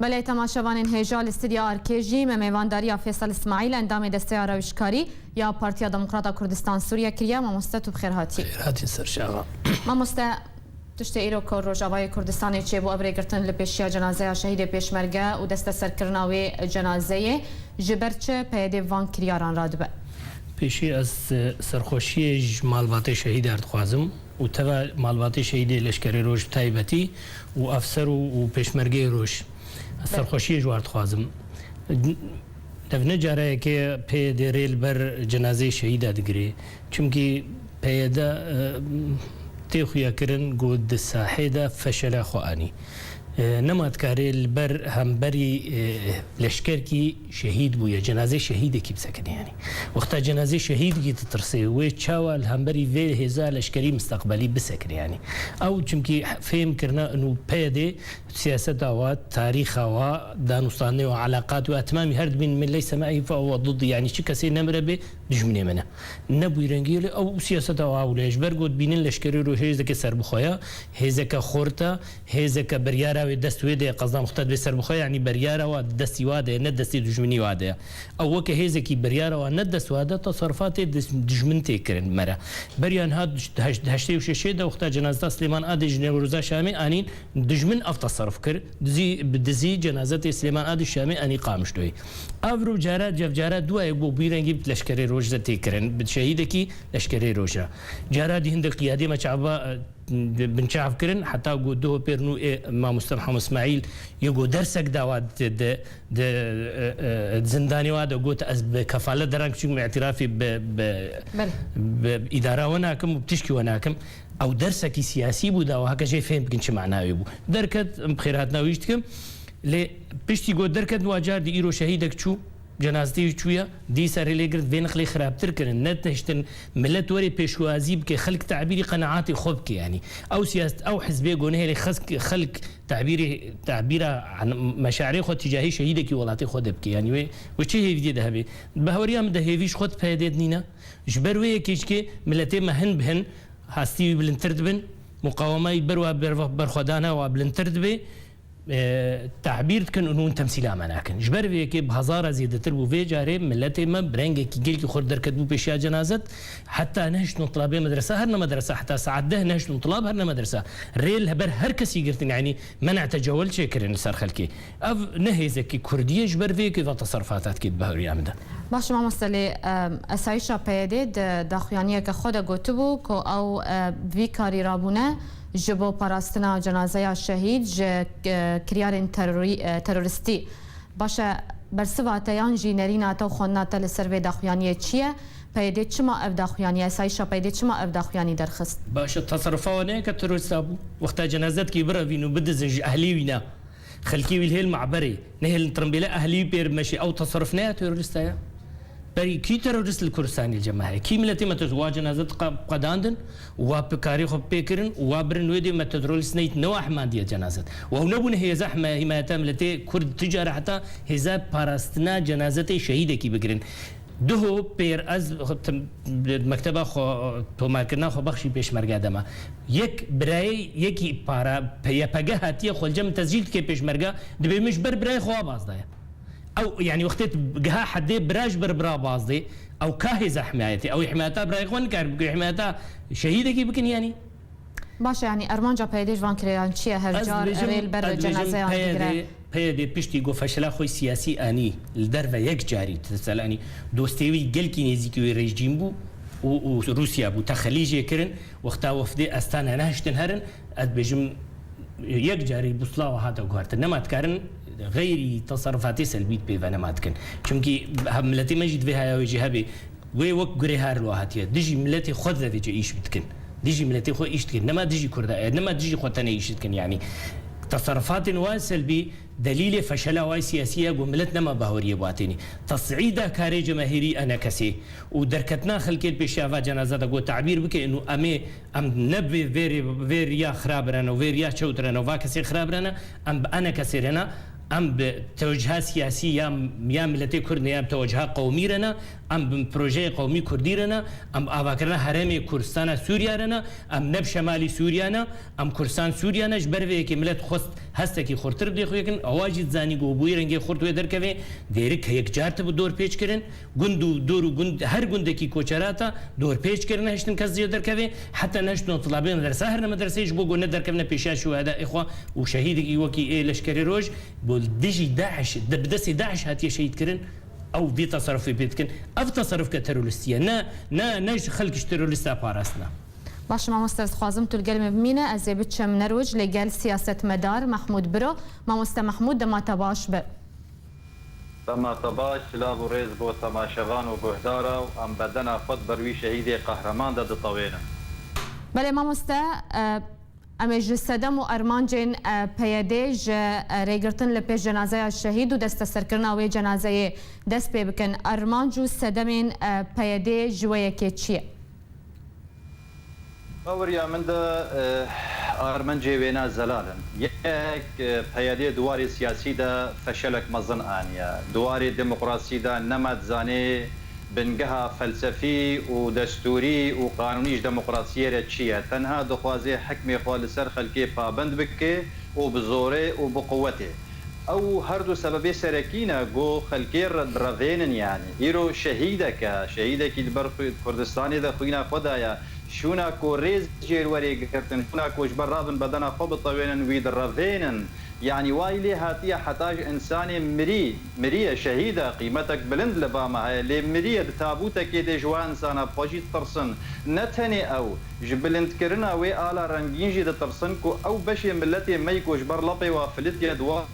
Belê temaşevanên hêja li Stîdya Arkê jî me mêvandariya Fêsal Îsmaîl endamê Desteya Rewişkarî ya Partiya Demokrata Kurdistan Sûriye kiriye. Mamoste tu bi xêr hatî. Xêr hatî ser şeva. Mamoste, tiştê îro ku Rojavayê Kurdistanê çêbû ev rêgirtin li pêşiya cenazeya şehîdê pêşmerge û desteserkirina wê cenazeyê ji ber çi peyedê van kiryaran radibe? Pêşî ez serxweşiyê ji malbatê şehîdan dixwazim. û teva malbatê şehîdê Leşkerê Roj bi taybetî û efser û pêşmergeyê roj serxweşiyê ji wan dixwazim. Ev ne careyek e PYD rê li ber cenazeyê şehîda digire. Çimkî PYD tê xuya kirin ku di sahê de feşele xwe anî. Nema dikarê li ber hemberî leşkerkî. Şehîd bûye, cenazeyê şehîdekî bi sekinî anî. Wexta cenazeyê şehîdekî ditirsê, wê çawa li hemberî vê hêza leşkerî misteqbelî bi sekinî anî? Ew çimkî fêm kirina inû PYDê siyaseta we, tarîxa we, danûstandinê we, eleqatê we, etimamî her dibîn min leyse me'î fe huwe didî yanî çi kesê nemiribê dijminê min e. Ne bûyî rengî lê ew siyaseta we ewle ye. Ji ber ku dibînin leşkerî rû hêzeke serbixwe ye, hêzeke xort e, Hêzek ke biryara wê dest wê de ye qezdan xwe tedibê ser bixwe yanî biryara wan di destî wa de ye ne di destê dijminî wa de ye. Ew weke hêzekî biryara wan ne di dest wa de ye teserrufatê dijmin tê kirin. Me re beriya niha di heştê û şeşê de wexta cenazeta Silêman Adiş ji Newroza Şamê anîn dijmin ev teserruf kir dizî bi dizî cenazetê Silêman Adiş Şamê anî Qamişloyê. Ev rû cara cevcara dû ye ku bi wî rengî bi leşkerê roj re tê kirin bi şehîdekî leşkerê roj re. Cara dî hindik qiyadê me çav binçavkirin heta ku duh û pêr nû ê mamoste Mihamed Smîl yê ku dersek dawa di zindanê wa de got ez bi kefalet deran kiçik min îtirafî bi îdara we nakim û bi tişkî we nakim ew dersekî siyasî bû dawa heke jê fêm bikin çi manayê bû. Derket em bi xêrhatina wî jî dikim lê piştî got derket nû a car di îro şehîdek çû. Cenaztê jî çûye, dîsa rê lê girt vê nixlê xirabtir kirin, ne tiştin milet were pêşwazî bike, xelk tebîrî qeneatê xwe bike yanî. Ew siyaset, ew hizbê ku nihêle xelk tebîrê tebîra meşaerê xwe tîcahî şehîdekî welatê xwe de bike yanî wê wê çi hêvîyê dihe bê. Bi heweriya min de hêvî ji xwe di PYD'ê de nîne. Ji ber wê yekê ji kê miletê me hin bi hin hestî wî bilindtir dibin, muqawema wî ber wa berxwedana wa bilindtir dibê. Tebîr dikin û hûn temsîla me nakin. Ji ber vê yekê bi hezara zêdetir bû. Vê carê miletê me bi rengekî gelkî xurt derketibû pêşiya cenazet. Heta nehişt no tilabê medresa her ne medresa heta saet deh nehişt no tilab her ne medresa. Rê li ber her kesî girtin yanî mena tecewel çê kirin li ser xelkê. Ev ne hêzekî kurdî ye ji ber vê yekê va teserrufata dike di bahuriya min de. Baş mamoste lê esayîşa PYD'ê di daxuyaniyeke xwe de gotibû ku ew bi vî karî rabûne. Ji bo parastina cenazeya şehîd ji kiryarên terorîstî baş e. Bersiva te yan jî nerîna te û xwendina te li ser vê daxuyaniyê çi ye? PYD çima ev daxuyanî, esayîşa PYD çima ev daxuyanî derxist? Baş e, taserufa wan ne ye ke terorîsta bû. Wexta cenazeyek dikê birevîn û bidizin ji ehlê wî ne. Xelkî wî lhêl maberê, nehêlin tirimbêle ehlî wî pê re meşê, ew teserruf ne ya terorîsta ya? Berî kî terorîst li Kurdistanê li cem me heye? Kî miletê me terorîst? Wa cenaze diqa qedandin û wa pê karê xwe bi pê kirin û wa birin wê dê me tetrorîst neyt ne wa hemandiya cenazet. Wa ew nebûne hêza hime hîmayeta miletê Kurd tu care heta hêza parastina cenazetê şehîdekî bigirin. Duho pêr ez mekteba xwe tomarkirina xwe bexşî pêşmerge de me. Yek birayê yekî para YPG hatiye xwelce min tezcîl dike pêşmerge dibê min ji ber birayê xwe a baz daye. Ew yanî wextê digiha hedê bira ji ber bira baz dê ew ka hêza himayetê. Ew ê himayeta birayê xwe nikare bike, wê himayeta şehîdekî bikin yanî. Baş e yanî armanca PYD ji van kirêyan çi ye hevcar rê li ber de cenazeyan bigire? PYD piştî ku feşila xwe siyasî anî li derve yek carî teselanî dostê wî gelkî nêzîkî wê rejîm bû û Rûsya bû texelî jê kirin wexta wefdê Astana nehiştin herin ez dibêjim yek carî bûslawa hate guhertin nema dikarin xeyrî teserrufatê selbî di pê ve nema dikin çimkî miletê me jî divê haya wê jî hebê. Wê wek gurê her lo hatiye dijî miletê xwe de vêce îş bidikin. Dijî miletê xwe îş dikin. Nema dijî kurda e, nema dijî xwe tenê îş dikin yanî. Teserrufatên wan selbî delîlê feşela way siyasî ye ku milet nema baweriyê bi atênî. Tesîîda karê cemahîrî ene kesê û derketina xelkê li pêşiya va cenaze de ku tebîr bike inu emê em ne bi vê rê vê riya xirabirene û vê riya çewtirene û va kesê xirabirene, em bi ene kesê re ne. Em bi tewciha siyasî ya ya miletê Kurd ne ya bi tewciha qewmî re ne, em bi projeyê qewmî Kurdî re ne, em bi avakirina herêmê Kurdistana Sûriya re ne, em ne bi şemalî Sûriya ne, em Kurdistan Sûriya ne, ji ber vê yekê milet xwest hestekî xurtir bi dê xwe yekin, ewa jî dizanî ku bi wî rengê xurt wê derkevê, dêrik heyekcar tibû dorpêçkirin, Gund û dor û gund her gundekî koçerata dorpêç kir nehiştin kes cê derkevê. Heta nehiştin û tilabên li dersa herîne medreseyê ji bo ku nederkevne pêşiya şûheda ê xwe û şehîdekî wekî ê leşkerê roj bo li dijî DAIŞ de bi destê DAIŞ hatiye şehîd kirin ew vê teserufê pê dikin. Ev teseruf ke terorîstî ye ne ne ne ji xelk ji terorîsta parastina. Baş e mamoste ez dixwazim tu li gel min bimîne ez ê biçim nerwc lê gel siyasetmedar Mehmûd biro. Mamoste Mehmûd dema te baş be. Dema te baş, silav û rêz bo temaşevan û guhdara û em bedena xwe di ber wî şehîdê qehreman de ditewênin. Belê mamoste, em ê ji sedem û armancên PYD ji rêgirtin li pêş cenazeya şehîd û desteserkirina wê cenazeyê dest pê bikin. Armanc û sedemên PYD'ê ji wê yekê çi ye? Baweriya min de armencê wêne zelal in. Yek, peyelê di warê siyasî de feşelek mezin aniye. Di warê demokrasî de nema dizanê bingeha felsefî û destûrî û qanûnî ji demokrasiyê re çi ye. Tenha dixwaze hikmê xwe li ser xelkê pabind bike û bi zorê û bi quwetê. Ew her du sebebê serekî ne ku xelkê revênin yanî. Îro şehîdeke, şehîdekî li ber Kurdistanê de xwîna xwe daye. Şûna ku rêz jêr werê girtin, şûna ku ji ber rabin bedena xwe bitewênin wî direvênin. Yanî wayî lê hatiye heta ji însanê mirî, miriye, şehîd e, qîmetek bilind li ba me heye lê miriye di tabûtekê dê ji wan insana bixwe jî tirsin. Ne tenê ew. Ji bilindkirina wê ala rengîn jî ditirsin ku ew beşê miletê me yî ku ji ber lapê wa filitiye di wa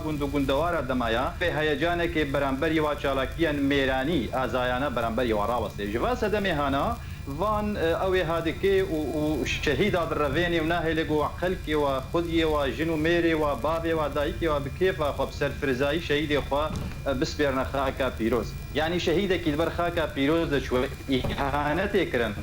gund û gundewara de maya, vê heyecanekê beramberî wa çalakiyên mêranî, azayane beramberî wan raweste. Ji va sedemê hana van ew ê hadikê û şehîda birevênê û nahêle ku xelkê wa, xwediyê wa, jin û mêrê wa, bavê wa, dayikê wa bi kêfa xwe, bi serfirzayî şehîdê xwe bispêrine xaka pîroz. Yanî şehîdekî li ber xaka pîroz de çû. îhanetê kirin.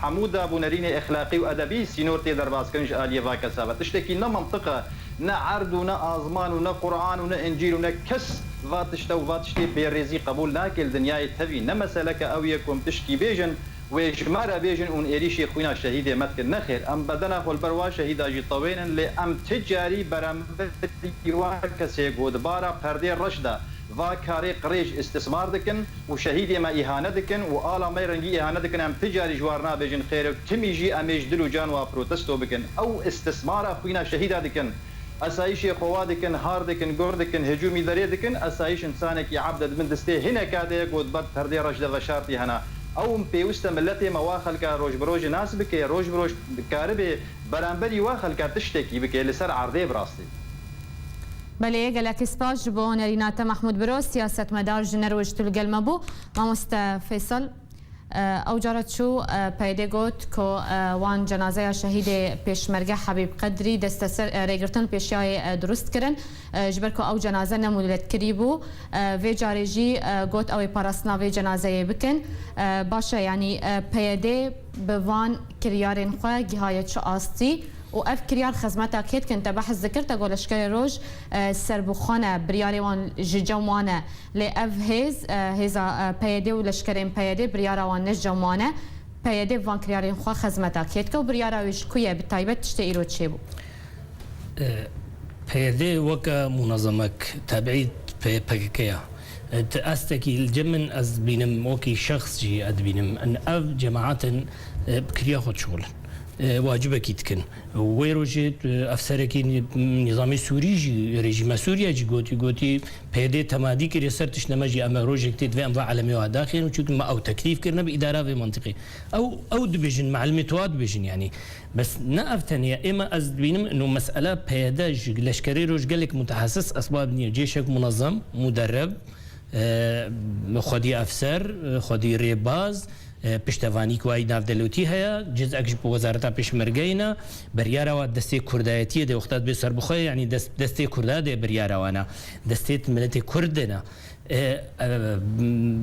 Hemû dav û nerînê exlaqî û edebî sînor tê derbaskirin ji aliyê va kesa ve. Tiştekî ne mintiq e, ne erd û ne azman û ne Quran û ne Încîl û ne kes va tişte û va tiştê bêrêzî qebûl nake li dinyayê tevî. Ne meseleke ew ye ku em tişkî bêjin, wê ji me re bêjin û êrîşê xwîna şehîdê me dikin. Nexêr, em bedena holberwa şehîda jî tewênin lê em ti carî beramberî wan kesê got bara perdê reş de Va karê qirêj îstîsmar dikin û şehîdê me îhane dikin û ala me rengî îhane dikin em ti carî ji war nabêjin xêr ew timî jî em ê ji dil û can wa protesto bikin ew îstîsmara xwîna şehîda dikin esayîşê xwe wa dikin har dikin guhr dikin hicûmî derê dikin esayîş însanekî ebd e di bin distê hineka de ye got berd perdê reş de veşartî hene ew pêwiste miletê me wa xelka roj bi rojê nas bike roj bi roj dikaribê beramberî wa xelka tiştekî bike li ser erdê bi rastî. Belê gelekî spas ji bo nerîna te Mahmûd Biro siyasetmedar ji neroj tu li gel me bû. Mamoste Feysal ew cara çû peyedê got ku wan cenazeya şehîdê Pêşmerge Hebîb Qedrî desteser rêgirtin pêşiyayê dirust kirin ji ber ku ew cenaze ne mûletkirî bû. Vê carê jî got ew ê parastina vê cenazeyê bikin. Baş e yanî peyedê bi van Kiryarên xwe gihaye çi astî û ev kiryar xizmeta kê dikin te behs dikir tego leşkerê roj serbûxan e biryarê wan ji cem wan e lê ev hêz hêza PYD û leşkerên PYD biryara wan ne ji cem wan e PYD bi van kiryarên xwe xizmeta kê dike û biryara wê ji ku ye bi taybet tiştê îro çêbû. PYD weke munezemek tebî pê PKK ya. Ti estekî li cem min ez dibînim, wekî şexs jî ez dibînim ev cemaetên bi kiriya xwe dişuxulin, wacibekî dikin. Wê rojê efserekî nîzamê Sûrî jî rejîma Sûrîya jî gotî, gotî PYD temadî kiriye ser tişt nema jî em e rojek tê divê em va elemê wa daxêrin çunke me ew teklîf kirine bi îdara vê mintîqê. Ew ew dibêjin me elemê tu wa dibêjin yanî. Bes ne ev tenê êma ez dibînim ino mesele peyede ji leşkerê re ji gelek mutehesis esbab nîye. Cêşek munezem, muderreb, xwedî efser, xwedî rêbaz, piştevanî ku ay navdelotî heye, cizek ji wezareta pêşmergeyê ne, biryara wan destê kurdayetîyê dê wexta dibê serbixwe ye yanî destê kurda dê biryara wan e. Destê miletê kurd de ne.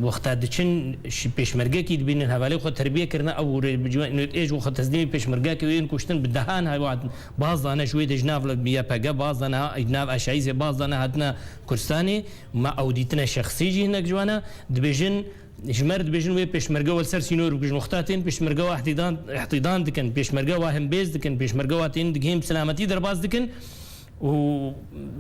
Wexta diçin ji pêşmergekî dibînin hevalên xwe terbiye kirine ew û rê ji NUT'ê ji xwe teslîmî pêşmergekê û yên kuştin bi dehan hevat baz dane ji wê de ji nav YPG baz de niha ji nav HIS'ê baz de nehatine Kurdistanê me ew dîtine şexsî jî hinek ciwan e dibêjin ji me re dibêjin wê pêşmerge we li ser sînor bikujin wexta tên pêşmerge we ihtîdan dikin pêşmerge we hembêz dikin pêşmerge we tên di kêm silametî derbas dikin Û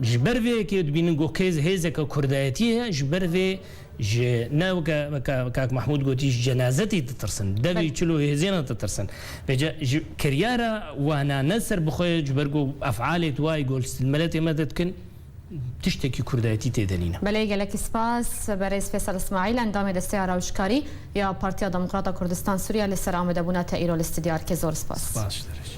ji ber vê yekê dibînin ku kêz hêzeke kurdayetiyê heye, ji ber vê ji ne weke weke kak Mahmûd gotî ji cenazetî ditirsin, devî çil û hêzên re ditirsin. Vê ca ji kiryara wana ne ser bi xwe ye ji ber ku efalê tu wayî gol stil miletê me de dikin tiştekî kurdayetî tê de nîne. Belê gelekî spas berêz Fêsal Îsmaîl endamê desteya rewşkarî ya Partiya Demokrata Kurdistan Sûriye li ser amadebûna te îro li stûdyo erkê zor spas. Spas ji te re jî.